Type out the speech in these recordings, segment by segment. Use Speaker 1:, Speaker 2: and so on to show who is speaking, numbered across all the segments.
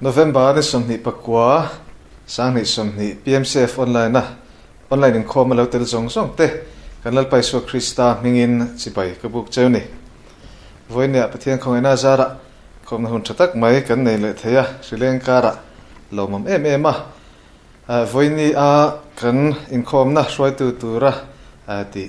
Speaker 1: November ni sawmhnih pakua sanghnih sawmhnih PMCF online a online inkhawm a lo tel zawng zawng te kan Lalpa Isua Krista hming in chibai ka buk cheu ni. Vawi nia Pathian khawngaih na zar ah khawmna hun tha tak mai kan nei leh thei a hrileng kar ah lawmawm em em a vawi ni a kan inkhawmna hruaitu tur a ti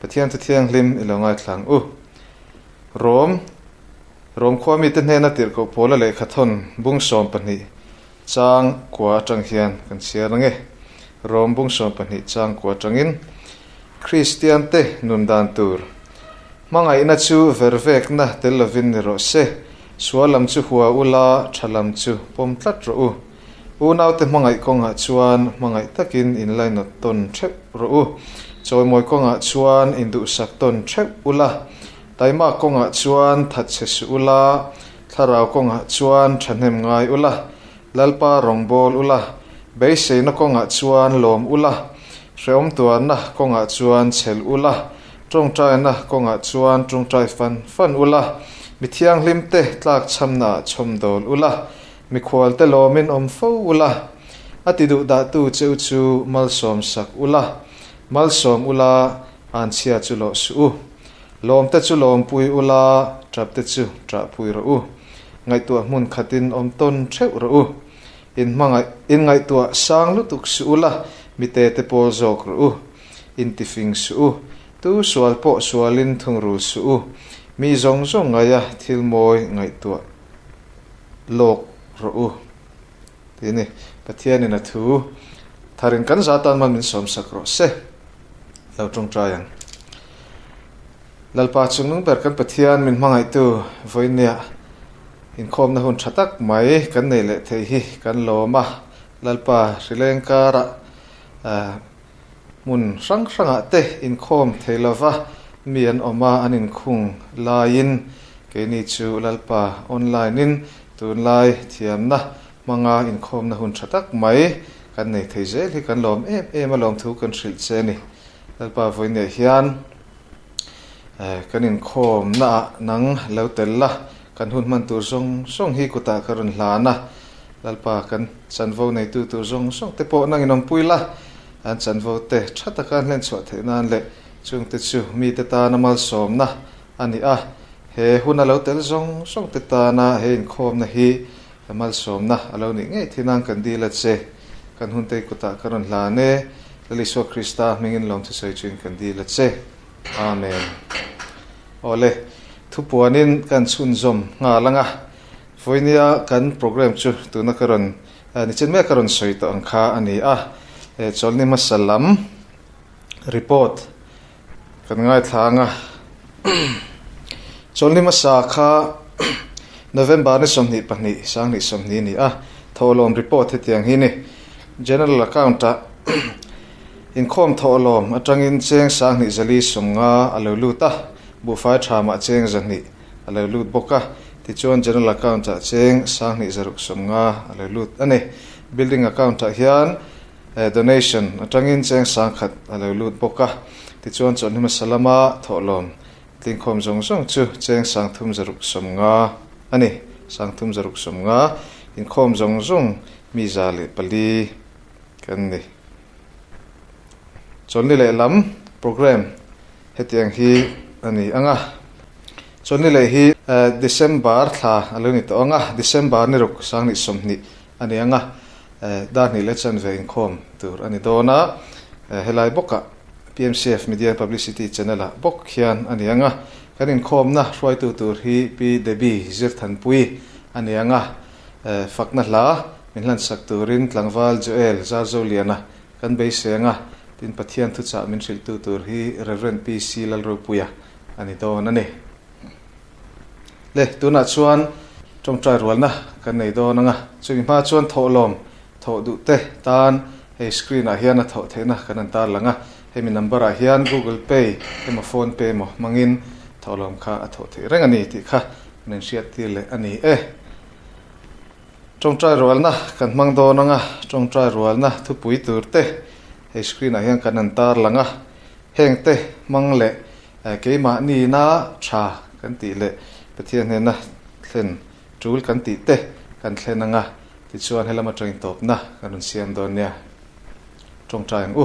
Speaker 1: Pathian chu thianghlim i lo ngaithlang u. Rom, Rom khua mite hnena tirhkoh pawla leh khathawn bungsawm pahnih chang kua atang hian kan chhiar ang e. Rom bungsawm pahnih chang kua atangin Kristiante nun dan tur hmangaihna chu ver vekna tel lovin ni rawh se, sual lam chu hua u la, tha lam chu pawm tlat rawh u. Unaute hmangaih kawngah chuan hmangaih takin in lainawt tawn theuh rawh u. Chawimawi kawngah chuan in duhsak tawn theuh u la. Taimak kawngah chuan that chhe suh u la. Thlarau kawngah chuan thahnem ngai u la. Lalpa rawngbâwl u la. Beiseina kawngah chuan lawm u la. Hrehawmtuarna kawngah chuan chhel u la. Ṭawngṭaina kawngah chuan ṭawngṭai fan fan u la. Mithianghlimte tlâkchhamnaah chhawmdawl u la. Mikhualte lawmin awm fo ula, a ti duh dahtu cheu chu malsawm sak ula, malsawm ula an chhia chu lawh suh u. Lawmte chu lawm pui ula, ṭapte chu ṭah pui rawh u. Ngaihtuah hmun khatin awm tawn ṭheuh rawh u. In hmangaih, in ngaihtuah sang lutuk suh ula, mite te pawl zawk rawh u. In tifing suh u. Tu sual pawh sualin thungrul suh u. Mi zawng zawng ngaia thil mawi ngaihtuah. lawk rawh u tih a ni. Pathianin a thu tharin kan za tan man min sawmsak rawh se a lo tawngtai ang. Lalpa chungnung ber kan Pathian min hmangaihtu Vawinia inkhawmna hun tha tak mai kan nei leh thei hi kan lawm a. Lalpa hrileng karah, Hmun hrang hrangah te inkhawm thei lova mi an awm a, an inkhung laiin keini chu Lalpa online-in tunlai thiamna hmanga inkhawmna hun tha tak mai kan nei thei zel hi kan lawm em em a, lawmthu kan hrilh che a ni. Lalpa vawineih hian. Kan inkhawmnaah nang lo tel la, kan hun hman tur zawng zawng hi kutah ka rawn hlan a. Lalpa, kan chanvo neitu tur zawng zawng te pawh nang inawmpui la, an chanvo te tha taka hlenchhuah theih nan leh chung te chu mite tana malsawmna a ni a. He hun a lo tel zawng zawng te tana he inkhawmna hi Ka malsawmna a lo nih ngei thin ang kan dil a che. Kan hun tei kutah ka rawn hlan e. Lal Isua Krista hmingin lawmthusawi ṭhin kan dil a che. Amen. Awle, thu puanin kan chhunzawm nghal ang a. Vawinia kan programme chu tuna ka rawn ni chen mek a rawn sawi tawh ang kha a ni a. Chawlhni hmasa lam report Kan ngaithlang a, Chawlhni hmasa kha November ni sawmhnih pahnih Sanghnih sawmhni a ni a, thawhlawm report hetiang hi ni, General account a inkhawm thawhlawm atangin cheng Sanghnih zali sunga a lo lut a, buhfai tha mah cheng zahnih a lo lut bawk a, tichuan General account ah cheng Sanghnih zaruk sawmnga a lo lut a ni. Building account ah hian. Donation atangin cheng sang khat a lo lut bawk a, tichuan chuan hi hmasa lama thawhlawm tlingkhawm zawng zawng chu cheng sang thum zaruk sawm nga a ni, sang thum zaruk sawm nga inkhawm zawng zawng mi za leh pali kan ni. Chawlhni leh lam programme hetiang hi a ni ang a, chawlhni leh hi December thla a lo ni tawh ang a, December ni ruk sang ni sawmhnih a ni ang a, dahnih leh chanve inkhawm tur a ni dawn a, helai bawka PMCF Media and Publicity Channel-ah bawk hian a ni ang a, kan inkhawmna hruaitu tur hi Pi Debbie Zirthanpuii a ni ang a, fakna hla min hlansak turin Tlangval Joel Zarzoliana kan beisei ang a, tin Pathian thuchah min hrilhtu tur hi Rev. PC Lalropuia a ni dawn a ni. Le, tunah chuan tawngtai rualna kan nei dawn anga, chumi hma chuan thawh lawm, thawh duh te tan hei screen ah hian a thawh theihna kan han tarlang a, hemi number ah hian Google Pay emaw Phone Pay emaw hmangin thawh lawm kha a thawh theih reng a ni tih kha kan han hriat tir leh a ni e. Tawngtai rualna kan hmang dawn anga, tawngtai rualna thupui tur te hei screen ah hian kan han tarlang a, heng te hmang leh Keimahniin a tha kan tih leh Pathian hnena thlen tul kan tih te kan thlen ang a, tichuan he lam atangin tawpna kan rawn siam dawn nia. Tawngtai ang u.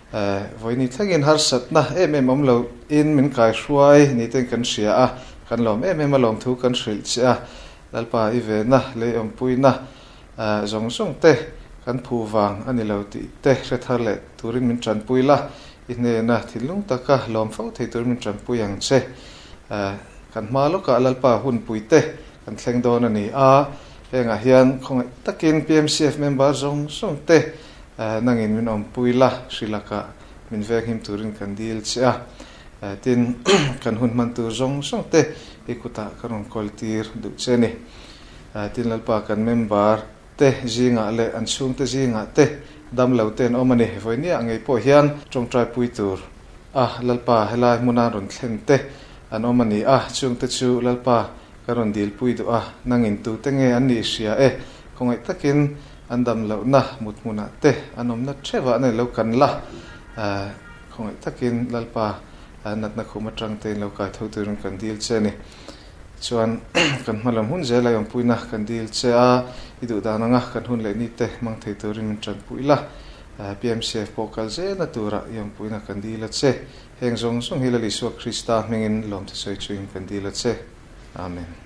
Speaker 1: Eh, vawiini thlengin harsatna em em awm loin min kaihruai nite'n kan hria a, kan lawm em em a lawm thu kan hrilh che a, Lalpa i vena, leiawmpuina eh zawng zawng te kan phu vang a ni lo tih te hrethar leh turin min tanpui la, i hnena thinlung taka lawm fo thei turin min tanpui ang che. Eh, kan hma lawkah Lalpa hunpui te kan thleng dawn a ni a, hengah hian khawngaih takin PMCF member zawng zawng te, Eh, nangin min awmpui la, hri lakah min veng him turin kan dil che a. Eh, tin, kan hun hman tur zawng zawng te i kutah ka rawn kawltir duh che ni. Eh, tin, Lalpa kan member te zingah leh an chhungte zingah te dam lo ten awm a ni. Vawinia ngei pawh hian tawngtai pui tur a Lalpa helai hmuna an rawn thlen te an awm a ni a, chungte chu Lalpa kan rawn dil pui duh a, nangin tute nge an nih hria e, khawngaih takin An dam lohna muthmunah te an awmna theuhah an lo kan la. Khawngaih takin Lalpa natna khum atangte in lo kai tho turin kan dil che a ni. Tichuan, kan hmalem hun zel a awmpuina kan dil che a, i duh dan ang a, kan hun leh ni te mang thei turin min tan pui la. PMCF pawh kal zelna turah i awmpuina kan dil a che. Heng zawng zawng hi Lalisua Krista hmingin lawmthu sawi chuin kan dil a che. Amen.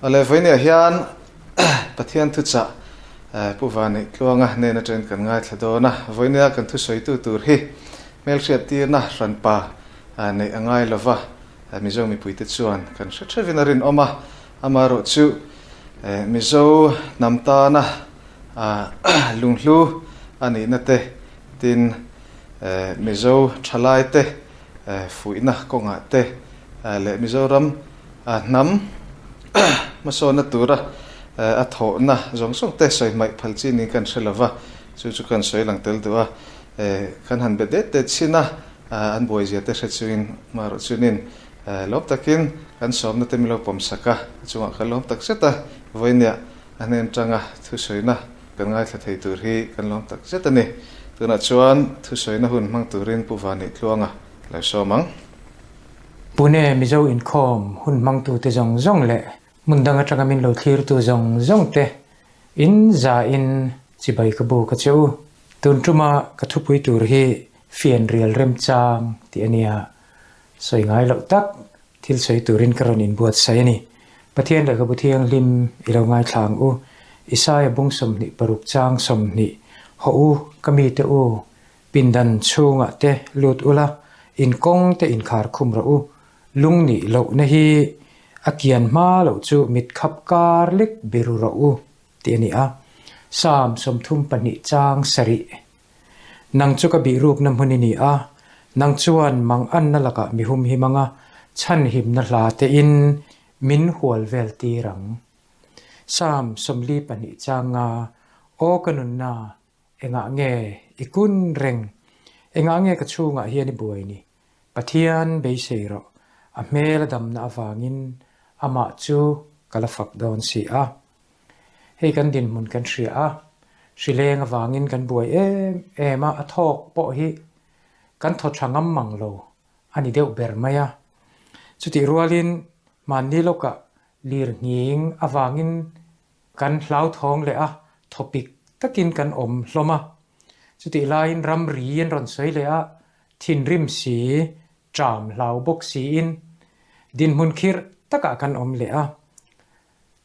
Speaker 1: A le vawi nia hian Pathian thuchah Pu Vanih Tluanga nen aṭen kan ngaithla dawn a. Vawinia kan thusawitu tur hi hmelhriat tirna hran pa neih a ngai lo va, Mizo mipuite chuan kan hre ṭhevin a rinawm a. Amah erawh chu Mizo hnam tana lunghlu a nihna te, tin, Mizo ṭhalaite fuihna kawngah te leh Mizoram, A hnam hmasawnna tura a thawhna zawng zawng te sawi hmaih phal chi niin kan hre lova, chu chu kan sawi lang tel duh a, kan han be det det chin a, an buaizia te hre chuin amaherawh chunin lawm takin kan sawmna te milo pawm sak a, a chungah kan lawm tak zet a, vawinia a hnen tanga thusawiina kan ngaithla thei tur hi kan lawm tak zet a ni, tunah chuan thusawiina hun hmang turin Pu Vani tluanga lo sawm ang.
Speaker 2: Pune Mizo inkhawm hun hmangtute zawng zawng leh hmun dang atanga min lo thlirtu zawng zawng te in za in chibai ka buk a che u. Tun tuma ka thupui tur hi fian rial remchang tih a nia. Sawi ngai loh tak thil sawi turin ka rawn inbuatsaih a ni. Pathian leh ka bu thianghlim i lo ngaithlang u. Isaiah bung sawmhnih paruk chang sawmhnih hawh u ka mite u Pindan chhungah te lut ula, inkawng te inkhar khum rawh u. Lung nih loh na hi a kian hma loh chu mit khap kar lek biru rawh u tih a ni a. Psalm sawmthum pahnih chang sarih, Nang chu ka bihrukna hmun i ni a, nang chuan mang anna lakah mi hum him anga chhanhimna hla tein min hual vel tir ang. Psalm sawmli pahnih chang nga, Aw ka nunna, Engah nge i kun reng? Engah nge ka chhungah hian i buai ni? Pathian beisei rawh, a hmel a damna avangin amah chu ka la fak dawn si a. Hei kan dinhmun kan hria a, hri leng avangin kan buai em em a, a thawk pawh hi kan thaw tha ngam mang lo a ni deuh ber mai a. Chutih rualin hmanni lawkah lirnghing avangin Kan hlauthawng leh a thawpik takin kan awm hlawm a, chutih laiin ramri an rawn sawi leh a, thinrim si, ṭam hlau bawk siin dinhmun khirh takah kan awm leh a.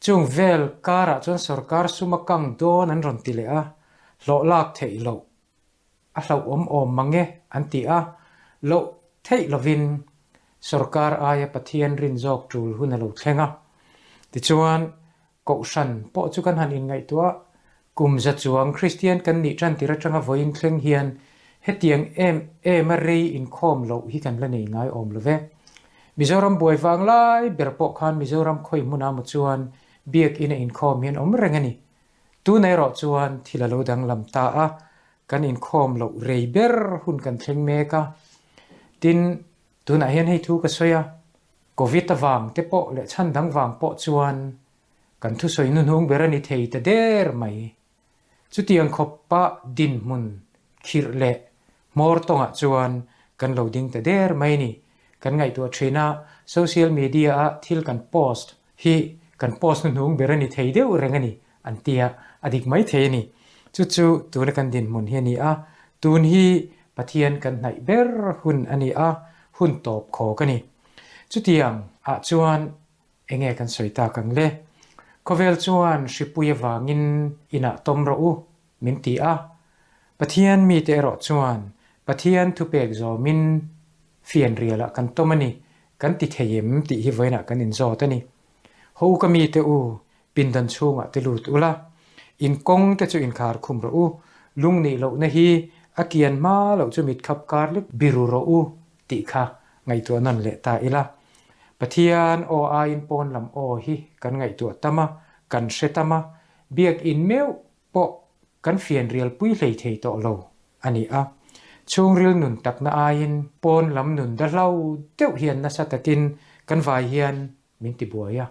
Speaker 2: Chung vel karah chuan sawrkar suma kang dawn an rawn ti leh a, hlawhlak theih loh a hlauhawm awm mange an ti a, loh theih lovin sorkar aia Pathian rin zawk tul hun a lo thleng a. Tichuan, Kohhran pawh chu kan han inngaihtuah, kum za chuang Kristian kan nih tan tir atanga vawiin thleng hian hetiang em ema rei inkhawm loh hi kan la nei ngai awm lo ve. Mizoram buai vang lai ber pawh khan Mizoram khawi hmuna maw chuan biak in a inkhawm hian awm reng a ni, Tunei rawh chuan thil a lo danglam ta a, kan inkhawm loh rei ber hun kan thleng mek a. Tin, tunah hian hei thu ka sawi a, Covid avang te pawh leh chhan dang vang pawh chuan kan thusawi nuhnung ber a ni thei ta der mai. Chutiang khawpa dinhmun khirh leh Hmawr tawngah chuan kan lo ding ta der mai ni. Kan ngaihtuah thin a, social media ah thil kan post hi kan post hnu hnung ber a ni thei deuh reng a ni an tia a dik mai thei a ni. Chu chu tuna kan dinhmun hi a ni a, tun hi Pathian kan hnaih ber hun a ni a, hun tawp khawk a ni. Chutiang ah chuan eng nge kan sawi tak ang le? Khawvel chuan hripui avangin inah tawm rawh u, Min ti a, Pathian mite erawh chuan Pathian thupek zawmin fianrialah kan tawm a ni kan ti thei em tih hi vawiinah kan inzawt a ni. Haw u ka mite u, pindan chhungah ti lut ula, in kawng te chu inkhar khum rawh u, lung nih lohna hi a kian hma loh chu mit khap kar lek biru rawh u tih kha ngaihtuah nawn leh ta ila. Pathian aw aiin pawn lam aw hi kan ngaihtuah tam a, kan hre tam a, biak in meuh pawh kan fian rial pui hlei thei tawh lo a ni a, chhungril nun takna aiin pawn lam nun da hlo deuh hian nasa takin kan vai hian min ti buai a,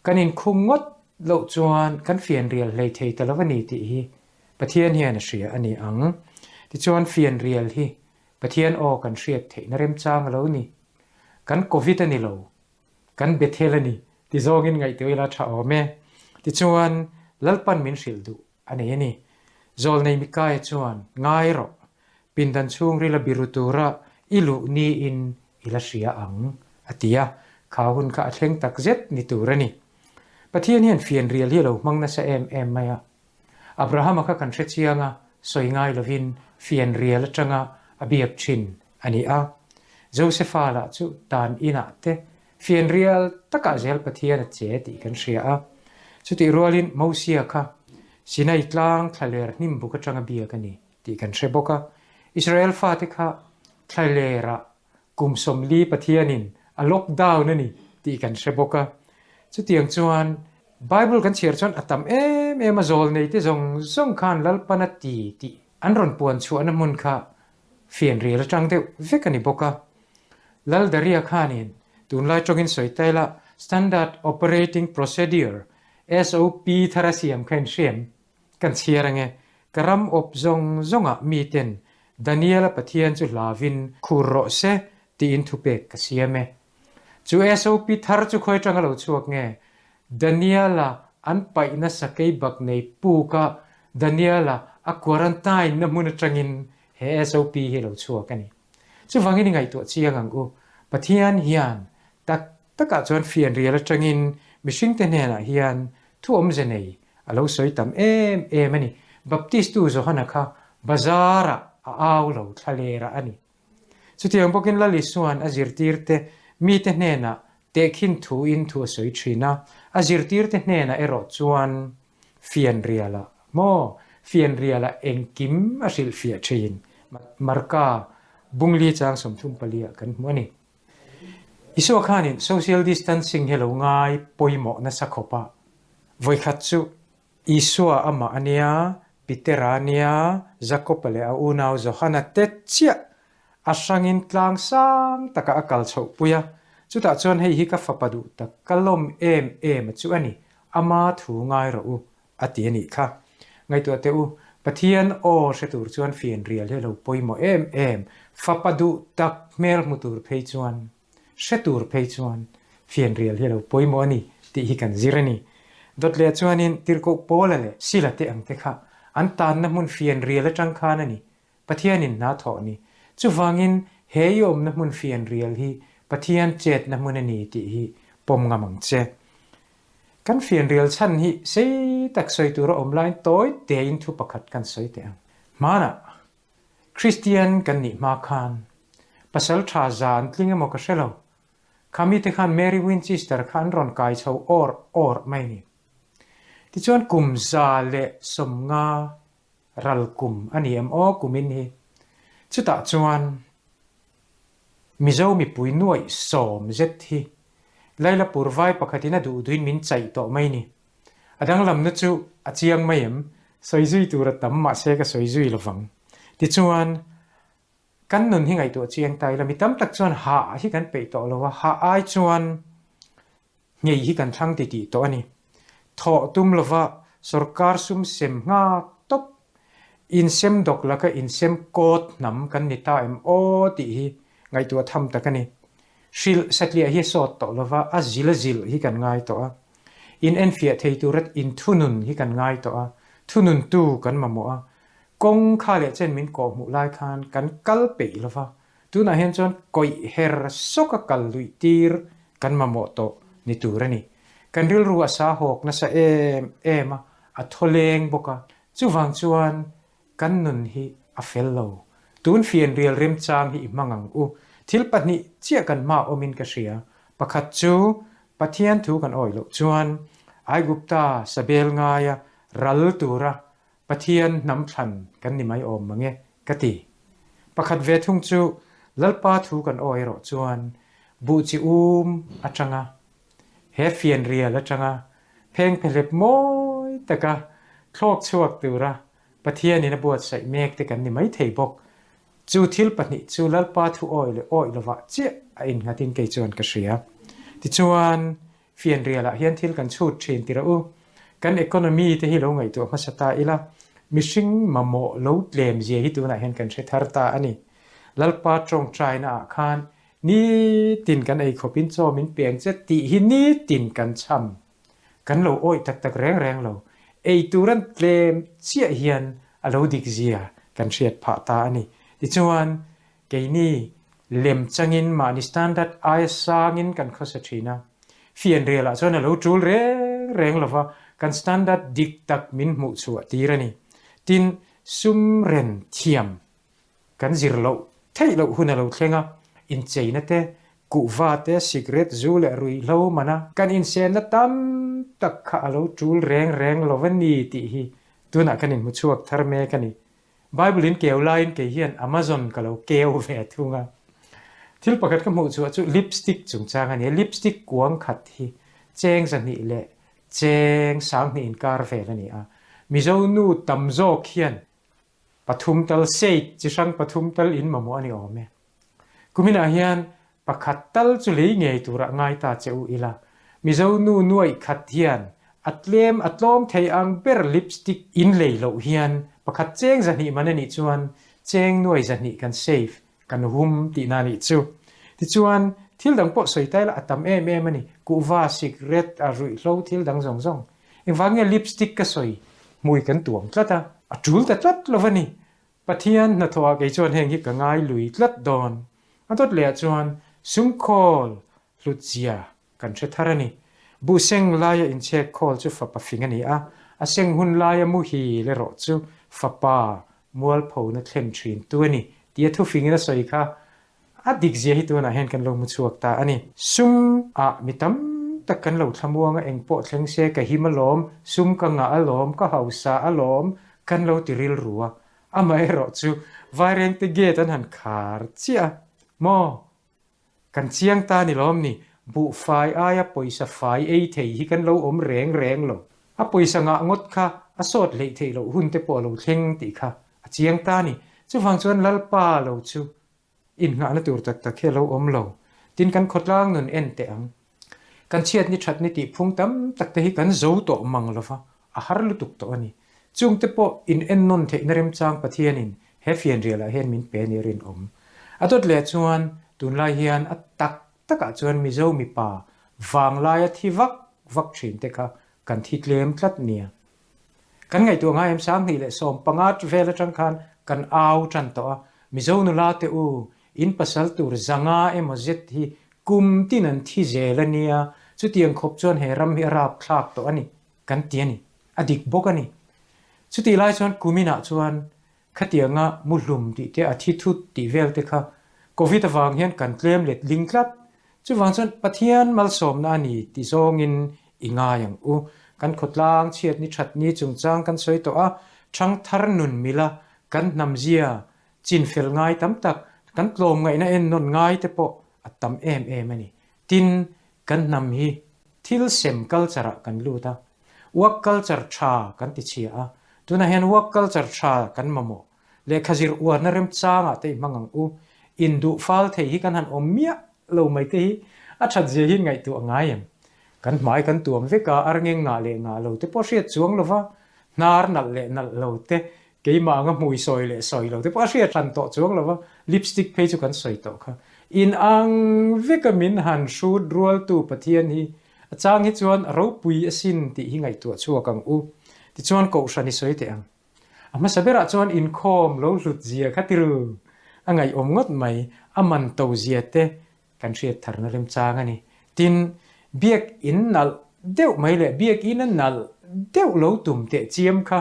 Speaker 2: kan inkhung ngawt loh chuan kan fian rial hlei thei ta lo a ni tih hi Pathian hian a hria a ni ang, tichuan fian rial hi Pathian aw kan hriat theihna remchang a lo ni, kan Covid a ni lo kan Bethel a ni ti zawngin ngaihtuah ila tha awm e. Tichuan, Lalpan min hrilh duh a nei a ni. Zawlnei Mikaia chuan, Ngai rawh, pindan chhung rila biru tura i luh niin ila hria ang, a ti a, khau hun kha a thleng takzet ni tur a ni. Pathian hian fianrial hi a lo hmang nasa em em mai a. Abrahama kha kan hrechiang a, sawi ngai lovin fian rial atanga a biak thin a ni a. Josepha lah chu dan inah te fian rial takah zel Pathian a che tih kan hria a. Chutih rualin Mosia kha Sinai tlang thlaler hnimbuk atanga biak a ni tih kan hre bawk a. Israel fate kha thlalerah Kum sawmli Pathianin a lockdown a ni tih kan hre bawk a. Chutiang chuan Bible kan chhiar chuan a tam em em a, zawl neite zawng zawng khan Lalpan a ti tih an rawn puan chhuahna hmun kha fianrial atang deuh vek a ni bawk a. Lal Daria khanin tunlai tawngin sawi ta ila Standard Operating Procedure, SOP, thar a siam kha in hre em? Kan chhiar ange, ka ram awp zawng zawng ah mi ten Daniel a Pathian chu hla vin khur rawh se tiin thu pek ka siam e. Chu SOP thar chu khawi tang a lo chhuak nge? Daniel a an paih nasa kei bak nei puk a Daniel a a quarantine na hmun atang in he SOP hi a lo chhuak a ni. Chuvangin i ngaihtuah chiang ang u, Pathian hian tak Takah chuan fianrial atangin mihringte hnenah hian thuawmze nei a lo sawi tam em em a ni. Baptistu Johana kha bazarah a au lo thlalerah a ni. Chutiang bawkin lal Isuan a zirtirte mite hnenah tehkhin thuin thu a sawi thin a, a zirtirte hnenah erawh chuan fianrialah maw, fianriala engkim a hrilhfiah thin. Marka bunglichang sawmthum palia kan hmu a ni. Isua khanin social distancing hi lo ngai pawimawh nasa khawp a, vawikhat chu Isua a mah a nia, Pitera a nia, Jakopa leh a unau Johana te chiah a hrangin tlang sang takah a kal chhoh pui a, chutah chuan hei hi ka fapa duh tak, ka lawm em em a chu a ni, ama thu ngai rawh u, A ti a nih kha. Ngaihtuah teh u, Pathian aw hre tur chuan fian rial hi a lo pawimawh em em. Fapa duh tak hmel hmu tur phei chuan, hre tur phei chuan fian rial hi a lo pawimawh a ni tih hi kan zir a ni. Dawtlea chuanin tirhkoh pawla leh sila te ang te kha an tanna hmun fian rial atang khan a ni Pathianin hna thawh ni. Chuvangin he i awmna hmun fianrial hi Pathian chetna hmun a ni tih hi pawm ngam ang che. Kan fianrial chhan hi sei tak sawi tur a awm laiin tawi tein thu pakhat kan sawi teh ang. Hmanah Kristian kan nih hma khan pasal tha za an tling emaw ka hre lo. Kha mite khan Mary Winchester kha an rawn kai chho awrh awrh mai ni. Tichuan kum za leh sawmnga ral kum a ni em aw kumin hi chutah chuan Mizo mipui nuaih sawm zet hi Laila Purvai pakhatin a duhduin min chaih tawh mai ni. A danglam nu chu a chiang mai em? Sawi zui tur a tam mahse ka sawi zui lovang. Tichuan kan nun hi ngaihtuah chiang ta ila mi tam tak chuan hah hi kan peih tawh lo a, hah ai chuan ngei hi kan thlâng ti tih tawh a ni. Thawh tum lova sorkar sum sem nghâk tawp insem dawk laka insem kâwt hnam kan ni ta em aw tih hi ngaihtuah tham tak a ni. Hrilh satliah hi a sawt tawh lova a zila zilh hi kan ngai tawh a. Inenfiah thei tura inthunun hi kan ngai tawh a, thununtu kan mamawh a. Kawngkhâ leh chen min kawhhmuh lai khân kan kal peih lova Tunah hian chuan kawih her sawka kal luih tir kan mamawh tawh ni tur a ni. Kan rilru a sa hawk nasa em em a, a thaw leng bawk a, chuvang chuan kan nun hi a fel lo. Tun fian rial remchang hi i hmang ang u. Thil pahnih chiah kan hma awmin ka hria. Pakhat chu Pathian thu kan awih loh chuan Aigupta sabel ngaia ral tura Pathian hnam thlan kan ni mai awm mange ka ti. Pakhat ve thung chu Lalpa thu kan aw erawh chuan buh chi um atanga he fian rial atanga pheng phe hlep mawi taka thlawk chhuak tura Pathianin a buatsaih mek te kan ni mai thei bawk. Chu thil pahnih chu Lalpa thu awih leh awih lovah chiah a innghatin kei chuan ka hria. Tichuan Fianrialah hian thil kan chhut thin ti rawh u. Kan economy te hi lo ngaihtuah hmasa ta ila, mihring mamawh lo tlem zia hi tunah hian kan hre thar ta a ni. Lalpa tawngtainaah khan nitin kan ei khawpin chawmin peng che tih hi nitin kan cham. Kan lo awih tak tak reng reng lo, ei turan tlem chiah hian a lo dik zia kan hriat phah ta a ni. Tichuan, Keini lem changin mahni standard aia sangin kan khawsa thin a, fianrialah chuan a lo tul reng reng lova kan standard dik tak min hmuhchhuah tir a ni. Tin, sumren thiam kan zir loh theih loh hun a lo thleng a, incheina te, kuhva te, cigarette zu leh ruihhlo mana kan insenna tam tak kha a lo tul reng reng lova ni tih hi tunah kan inhmuchhuak thar mek a ni. Bible in keu laiin kei hian Amazon ka lo keu ve thung a. Thil pakhat ka hmuh chuah chu lipstick chungchang a ni a. Lipstick kuang khat hi cheng zahnih leh cheng sang hnih in kar vel a ni a. Mizo nu tam zawk hian pathum tal shade chi hrang pathum tal in mamawh a ni awm e. Kuminah hian pakhat tal chu lei ngei turah ngai ta che u ila, Mizo nu nuaih khat hian a tlem a tlawm thei ang ber lipstick in lei loh hian pakhat cheng zahnih man a nih chuan cheng nuai zahnih kan save kan hum tih na nih chu. Tichuan thil dang pawh sawi ta ila a tam em em a ni, kuhva, cigarette, a ruih hlo thil dang zawng zawng. Engvang nge lipstick ka sawi hmui kan tuam tlat a. A tul ta tlat lova ni, Pathian hnathawha kei chuan heng hi ka ngai lui tlat dawn. A dawt leh ah chuan Sungkhawl hlutzia kan hre thar a ni. Buseng laia inchhek khawl chu fapa fing a ni a, a seng hun laia muhi lerawh chu fapa mualphona thlen thin tu a ni tia thufingin a sawi kha. A dik zia hi tunah hian kan lo hmu chhuak ta a ni. Sum ah mi tam tak kan lo thlamuang a, eng pawh thleng se ka him alawm, sum ka ngah alawm, ka hausa alawm kan lo ti rilru a. Amaherawh chu Vairengte gate an han khar chiah a. Maw? Kan chiang ta ni lawm ni, buhfai aia pawisa fai ei thei hi kan lo awm reng reng lo. A pawisa ngah ngawt kha a sawt hleih theih loh hun te pawh lo thleng tih kha A chiang ta a ni. Chuvang chuan Lalpa lo chu innghahna tur tak tak hi a lo awm lo. Tin, kan khawtlang nun en teh ang. Kan chhiat ni that ni tihphung tam tak te hi kan zo tawh mang lova, a har lutuk tawh a ni. Chung te pawh in en nawn theihna remchang Pathianin he fianrialah hian min pe ni a rinawm. A dawt leh chuan tunlai hian a tak takah chuan Mizo mipa vang laia thi vak vak thin te kha kan thi tlem tlat nia Kan ngaihtuah ngai em sang hnih leh sawm panga vel atang khan kan au tan tawh a, Mizo nula te u, in pasal tur zanga emaw zet hi kum tin an thi zel a nia, chutiang khawp chuan he ram hi a rap thlak tawh a ni kan ti a ni, a dik bawk a ni. Chutih lai chuan kumin ah chuan Khatianga mu hlum tih te a thi thut tih vel te kha Covid avang hian kan tlem let ling tlat. Chuvang chuan Pathian malsawmna a ni ti zawngin i ngai ang u. Kan khawtlang chhiat ni that ni chungchang kan sawi tawh a, thangthar nun mila kan hnamzia chin fel ngai tam tak, kan tlawmngaihna en nawn ngai te pawh a tam em em a ni. Tin, Kan hnam hi thil sem culture ah kan lut a, work culture tha kan ti chhia a, tunah hian work culture tha kan mamawh, lehkha zir uarna remchang ah te i hmang ang u, in duh fal thei hi kan han awm miah lo mai te hi a that zia hi ngaihtuh a ngai em? Kan hmai kan tuam vek a, arnge ngah leh ngah lo te pawh hriat chuang lova, hnar nalh leh nalh lo te Keimah anga hmui sawi leh sawi lo te pawh a hriat hlan tawh chuang lo va, lipstick phei chu kan sawi tawh kha. Inang veka min han hrut rualtu Pathian hi a chang hi chuan a ropui a sin tih hi ngaihtuah chhuak ang u. Tichuan kohhran i sawi teh ang. A hmasa berah chuan inkhawm lo hlutzia kha tirh a ngaihawm ngawt mai, a man tozia te Kan hriat tharna remchang a ni. Tin, biak in nalh deuh mai leh biak in a nalh deuh lo tum teh chiam kha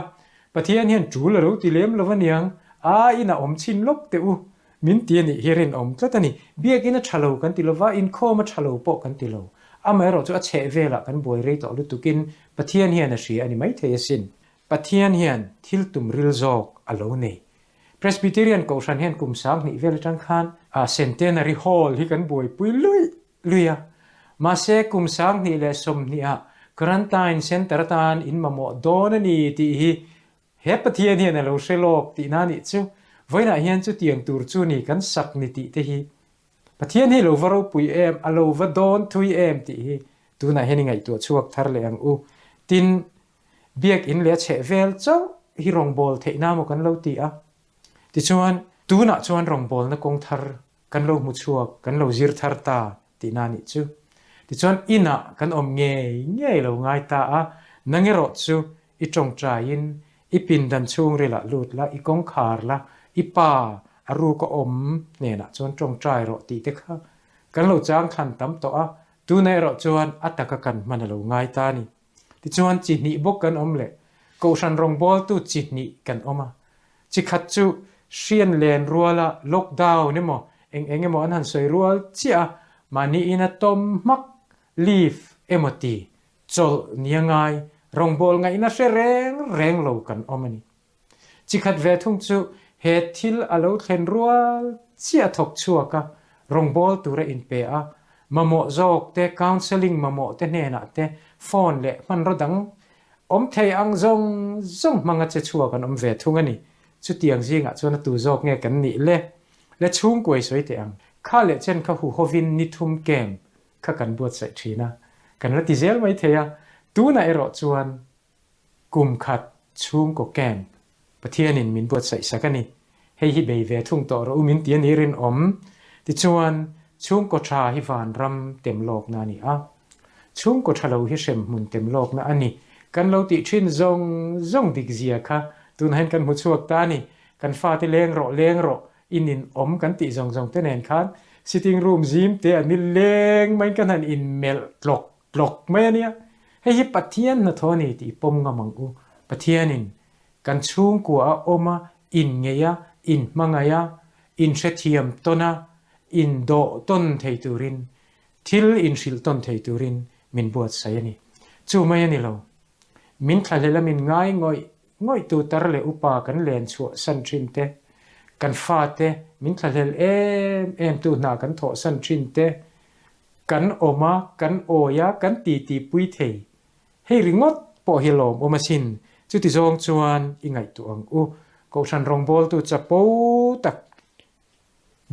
Speaker 2: Pathian hian tul a lo ti lem lo a niang. A in a awm chin lawk teh u, min ti a nih hi a rinawm tlat a ni. Biak in a tha lo kan ti lo va, inkhawm a tha lo pawh kan ti lo. Amaherawhchu a chheh velah kan buai rei tawh lutukin Pathian hian a hria a ni maithei asin. Pathian hian thil tum ril zawk a lo nei. Presbyterian Kohhran hian kum sang hnih vel atang khan a Centenary Hall hi kan buaipui luih luih a. Mahse, kum sang hnih leh sawmhnih ah Quarantine Centre atan in mamawh dawn a ni tih hi he Pathian hian a lo hre lawk tihna a nih chu. Vawiinah hian chutiang tur chu ni kan sak ni tih te hi Pathian hi lo va ropui em, a lo va dawn thui em tih hi tunah hian i ngaihtuah chhuak thar leh ang u. Tin, Biakin leh a chheh vel chauh hi rawngbâwl theihna emaw kan lo ti a. Tichuan, tûnah chuan rawngbâwlna kawng thar kan lo hmu chhuak, kan lo zir thar ta tihna a nih chu. Tichuan, inah kan awm ngei ngei lo ngai ta a, nangerawh chu i ṭawngṭaiin, i pindan chhûngrila lût la, i kawngkhâr la, i pa a rûk a awm hnênah chuan ṭawngṭai rawh tih te kha kan lo chângthlan tam tawh a, tûnah erawh chuan a taka kan hman a lo ngai ta a ni. Tichuan chi hnih bawk kan awm leh Kohhran rawngbawltu chi hnih kan awm a, chi khat chu hrian len ruala lockdown emaw eng eng emaw an han sawi rual chiah a, mahniin a tawm hmak leave emaw ti chawlh nia ngai rawngbawlngaihna hre reng reng lo kan awm a ni. Chi khat ve thung chu he thil a lo thlen rual chiah thawk chhuak a, rawngbâwl tur a inpe a, mamawh zawk te, counselling mamawh te hnenah te, phone leh hmanraw dang awm thei ang zawng zawng hmanga che chhuak an awm ve thung a ni. Chutiang zingah chuan a tu zawk nge kan nih le? Le chhungkuai sawi teh ang. Kha leh chen kha hu hovin ni thum kem kha kan buatsaih thin a, kan la ti zel mai thei a, tunah erawh chuan Kum khat chhungkaw camp Pathianin min buatsaihsak a ni, hei hi bei ve thung tawh rawh u min ti a ni rinawm. Tichuan, chhungkaw tha hi vanram tem lawkna a ni a, chhungkaw tha lo hi hrem hmun tem lawkna a ni. Kan lo tih thin zawng zawng dik zia kha tunahin kan hmu chhuak ta a ni. Kan fate leng rawh leng rawh inin awm kan tih zawng zawng te nen khan sitting room zim te an ni leng mai ka hna'n in melh tlawk. Tlawk mai a nia. Hei hi Pathian hnathawh a ni tih i pawm ngam ang u. Pathianin kan chhungkuaha awm a inngeih a, inhmangaih a, inhrethiam tawn a, indawh tawn thei turin, thil inhrilh tawn thei turin min buatsaih a ni. Chu mai a ni lo. Min thla hleh la min ngaingawih Ngawihtu tar leh upa kan len chhuahsan thin te, kan fate min thlahlel em em tu hna kan thawhsan thin te, kan awm a, kan awi a, kan titi pui thei hei ringawt pawh hi lawm awm asin. Chuti zawng chuan i ngaihtuah ang u. Kohhran rawngbawltu chapo tak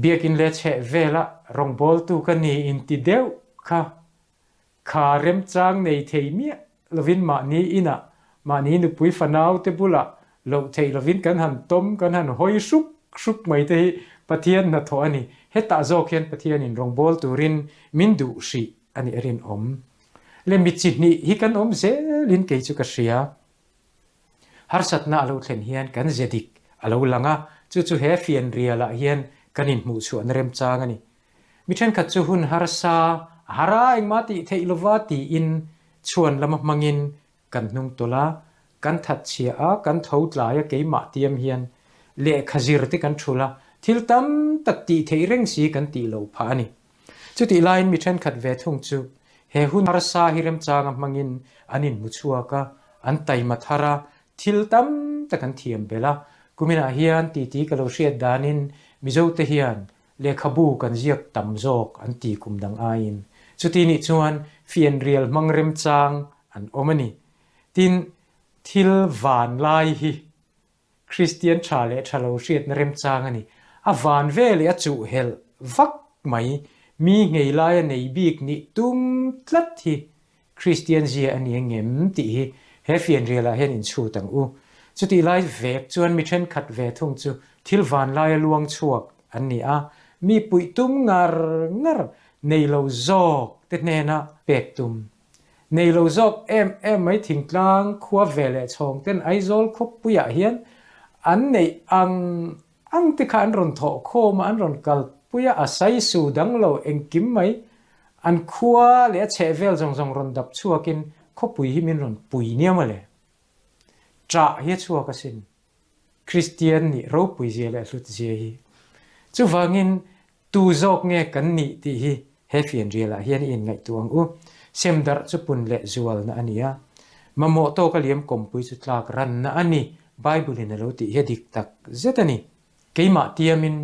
Speaker 2: biakin leh chheh velah rawngbawltu ka ni inti deuh kha kha remchang nei thei miah lovin mahni inah, mahni nupui fanaute bulah loh theih lovin kan han tawm, kan han hawi hruk hruk mai te hi Pathian hnathawh a ni. Hetah zawk hian Pathianin rawngbâwl turin min duh hrih a nih a rinawm. Le mi chi hnih hi kan awm zelin kei chu ka hria. Harsatna a lo thlen hian kan zia dik a lo lang a, chu chu he fianrialah hian kan inhmuhchhuahna remchang a ni. Mi thenkhat chu hun harsa a har a, engmah a tih theih lo va tiin chhuan lama hmangin kan hnung tawlh a, kan thatchhia a, kan tho tlai a, keimah tiam hian lehkha zir te kan ṭhul a, thil tam tak tih theih reng si kan tih lo phah a ni. Chutih laiin mi thenkhat ve thung chu he hun harsa hi remchanga hmangin an inhmu chhuak a, an taima thar a, thil tam tak an thiam belh a. Kuminah hian titi ka lo hriat danin Mizote hian lehkhabu kan ziak tam zawk an ti kum dang aiin chuti nih chuan fianrial hmang remchang an awm a ni. Tin, thil vanlai hi Kristian tha leh tha lo hriatna remchang a ni. A van ve leh a chuhhelh vak mai, mi nghei laia nei bik nih tum tlat hi Kristian zia a ni engem tih hi he fianrialah hian inchhut ang u. Chutih lai vek chuan mi thenkhat ve thung chu thil van laia luangchhuak an ni a, mipuitum ngar ngar nei lo zawkte hnena pek tum Nei lo zawk em em mai thingtlang khua ve leh chhawng ten Aizawl khawpui ah hian an neih ang ang te kha an rawn thawh khawm a, an rawn kal pui a, a sai su dang lo engkim mai an khua leh a chheh vel zawng zawng rawn dap chhuak in khawpui hi min rawn pui niam a le. Chah hi a chhuak a sin. Kristian nih ropui zia leh hlut zia hi. Chuvangin, tu zawk nge kan nih tih hi he fianrial ah hian i inngaihtuah ang u. Sem darh chu pun leh zualna a ni a. Mamawh tawk a liam kawmpui chu tlak ranna a ni, Bible in a lo tih hi a dik tak zet a ni. Keimah tiam in,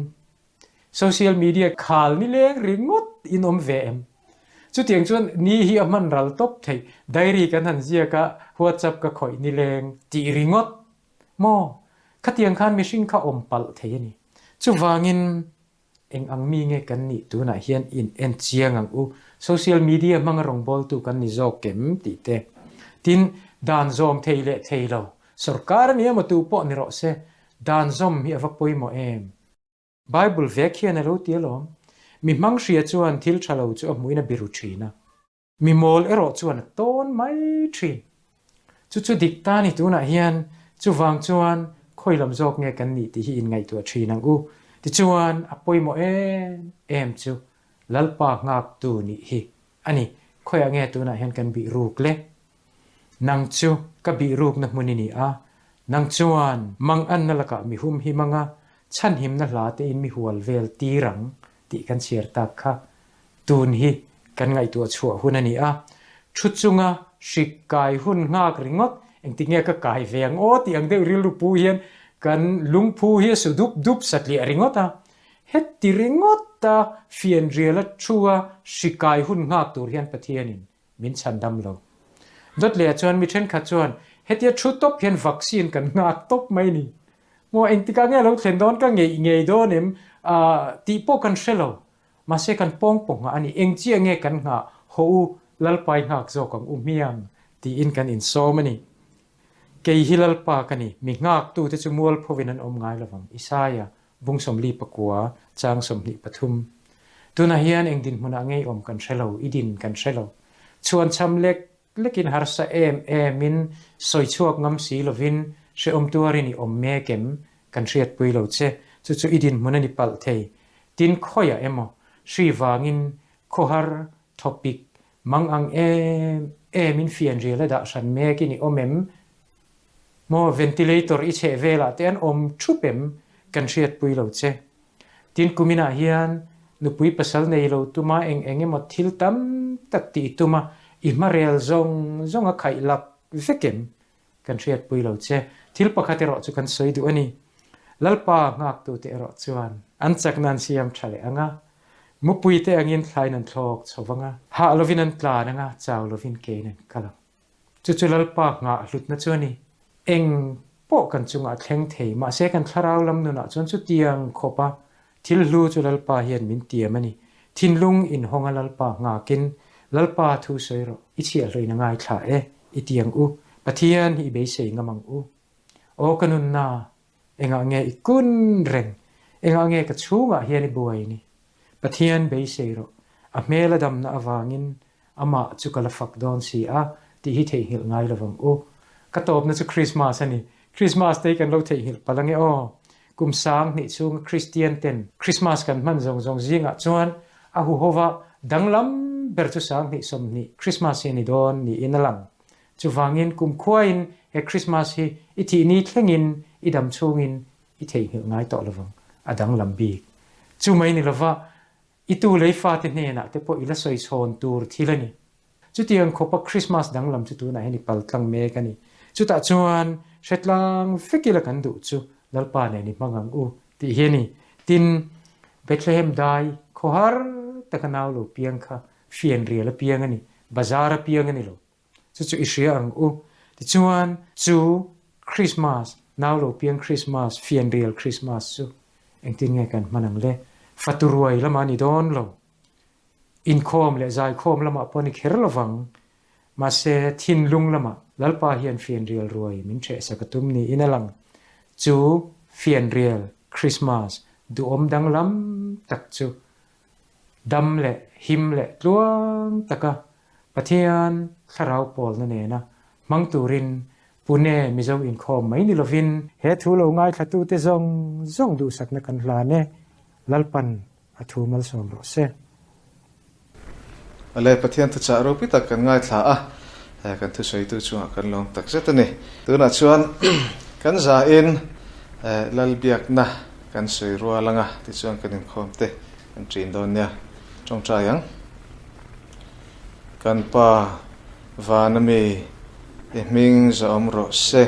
Speaker 2: Social media khal ni leng ringawt in awm ve em? Chutiang chuan ni hi a hman ral tawp theih, diary kan han ziak a, WhatsApp ka khawih ni leng tih ringawt maw? Khatiang khan mihring kha awm palh thei a ni. Chuvangin eng ang mi nge kan nih tunah hian inenchiang ang u, social media hmanga rawngbawltu kan ni zawk em? tih te. Tin, dan zawm thei leh thei lo, sorkar a ni emaw tu pawh ni rawh se, dan zawm hi a va pawimawh em? Bible vek hian a lo ti alawm, Mi hmang hria chuan thil tha lo chu a hmuin a biru thin a, mi mawl erawh chuan a tawn mai thin. Chu chu dik ta ni tunah hian chuvang chuan khawilam zawk nge kan nih tih hi inngaihtuah thin ang u. Tichuan, a pawimawh em em chu Lalpa nghaktu nih hi a ni. Khawiah nge tunah hian kan bihruk le Nang chu ka bihrukna hmun i ni a, nang chuan. Manganna lakah mihum hi manga chhanhimna hla tein mi hual vel tir ang tih kan chhiar tak kha tun hi kan ngaihtuah chhuah hun a ni a, thu chunga hrik kai hun nghak ringawt engti nge ka kai ve ang aw tih ang deuh rilru pu hian kan lungphu hi a su dup dup satliah ringawt a, heti ringawt a fianriala thua hri kai hun nghak tur hian Pathianin Min chhan dam lo. Dawt leh ah chuan mi thenkhat chuan hetia thu tawp hian vaccine kan nghak tawp mai ni. Maw engtik ah nge lo thlen dawn ka ngeih ngei dawn em ah tih pawh kan hre lo. Mahse kan pawng pawh nghah a ni. Eng chiah nge kan nghah haw u, Lalpai nghak zawk ang u hmiang tiin kan insawm a ni. Kei hi Lalpa ka ni. Mi nghak tu te chu mualpho in an awm ngai lo vang. Isaiah Vung sawmli pakua, chang sawmhnih pathum. Tunah hian eng dinhmunah ngeiawm kan hre lo, i din kan hre lo. Chhuan chham lek lekin harsa em em in sawi chhuak ngam si lovin hrehawm tuar in i awm mek em kan hriatpui lo che, chu chu i dinhmun a ni palh thei. Tin khawiah emaw, hri vangin khawhar, thawpik, mang ang em em in fianrial a dah hran mek in i awm em? Maw ventilator i chheh velah te an awm thup em kan hriatpui lo che. Tin kuminah hian nupui pasal nei lo tuma eng eng emaw thil tam tak tih i tuma i hmarel zawng zawng a khaih lak vek em kan hriatpui lo che. Thil pakhat erawh chu kan sawi duh a ni. Lalpa nghaktute erawh chuan. An chak nan siam tha leh anga, mupuite angin thlai nan thlawk chho vang a. Hah lovin an tlan anga, chau lovin keiin an kal ang. Chu chu Lalpa nghah hlutna chuan i eng pawh kan chungah a thleng thei, mahse kan thlarau lam nunah chuan chutiang khawpa thil hlu chu Lalpa hian min tiam a ni. Thinlung in hawnga Lalpa nghakin, Lalpa thu sawi rawh, i chhiahhlawina ngaithla e, i tiang u, Pathian i beisei ngam ang u. Aw ka nunna, Engah nge i kun reng? Engah nge ka chhungah hian i buai ni? Pathian beisei rawh, a hmela damna avangin Amah chu ka la fak dawn si a, tih hi theihnghilh ngai lo vang u. Ka tawpna chu Krismas a ni. Krismas te hi kan lo theihnghilh palh ange aw. Kum Sang hnih chhunga Kristian ten Krismas kan hman zawng zawng zingah chuan a huhova danglam ber chu Sang hnih sawmhnih Krismas hi a ni dawn niin a lang. Chuvangin kumkhuain he Krismas hi i tihni thlengin i dam chhungin i theihnghilh ngai tawh lovang a danglam bik. Chu mai ni lova, i tu lei fate hnenah te pawh i la sawi chhawn tur thil a ni. Chuti ang khawpa Krismas danglam chu tunah hian i pal tlang mek a ni. Chutah chuan hretlang vek ila kan duh chu Lalpa nen i hmang ang u tih hi a ni. Tin, Bethlehem dai khaw har taka nau lo piang kha fianrial apiang a ni, bazar apiang a ni lo. Chu chu i hria ang u. Tichuan, chu Krismas, nau lo piang Krismas, fianrial Krismas chu engtin nge kan hman ang le? Faturuai lamah ni dawn lo. Inkhawm leh zaikhawm lamah pawh a ni kher lovang. Mahse, thinlung lamah Lalpa hian fianrial ruai min hrehsak a tum niin a lang. Chu fianrial Krismas duhawm danglam tak chu dam leh him leh tluang taka Pathian thlarau pawlna nena hmang turin Pune Mizo inkhawm mai ni lovin, he thu lo ngaithlatute zawng zawng duhsakna kan hlan e, Lalpan a thu malsawm rawh se. Awle, Pathian thuchah ropi tak kan ngaithla a, he kan thusawitu chungah kan lawm takzet a ni. Tunah chuan kan
Speaker 1: zain Lal biakna. Kan sawi rual anga tichuan kan inkhawm te kan ṭin dawn nia ṭawngṭai ang. Kan pa Vanami i hming zawm rawh se,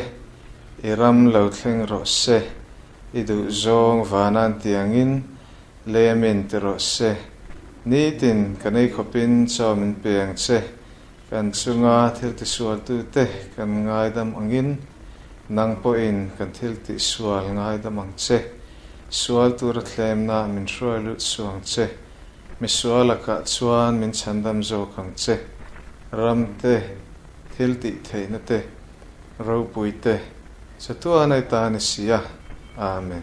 Speaker 1: i ram lo thleng rawh se, i duhzawng vanan tiangin lemin ti rawh se. Nitin ka nei khawpin chawmin peng che Kan chunga thiltisualtute kan ngaidam angin nang pawhin kan thiltihsual ngaidam ang che. Sual tura thlemna min hruai lut suh ang che. Misual lakah chuan min chhandam zawk ang che. Ramte, thiltih theihnate, ropuite, chatuana i ta ni sia. Amen.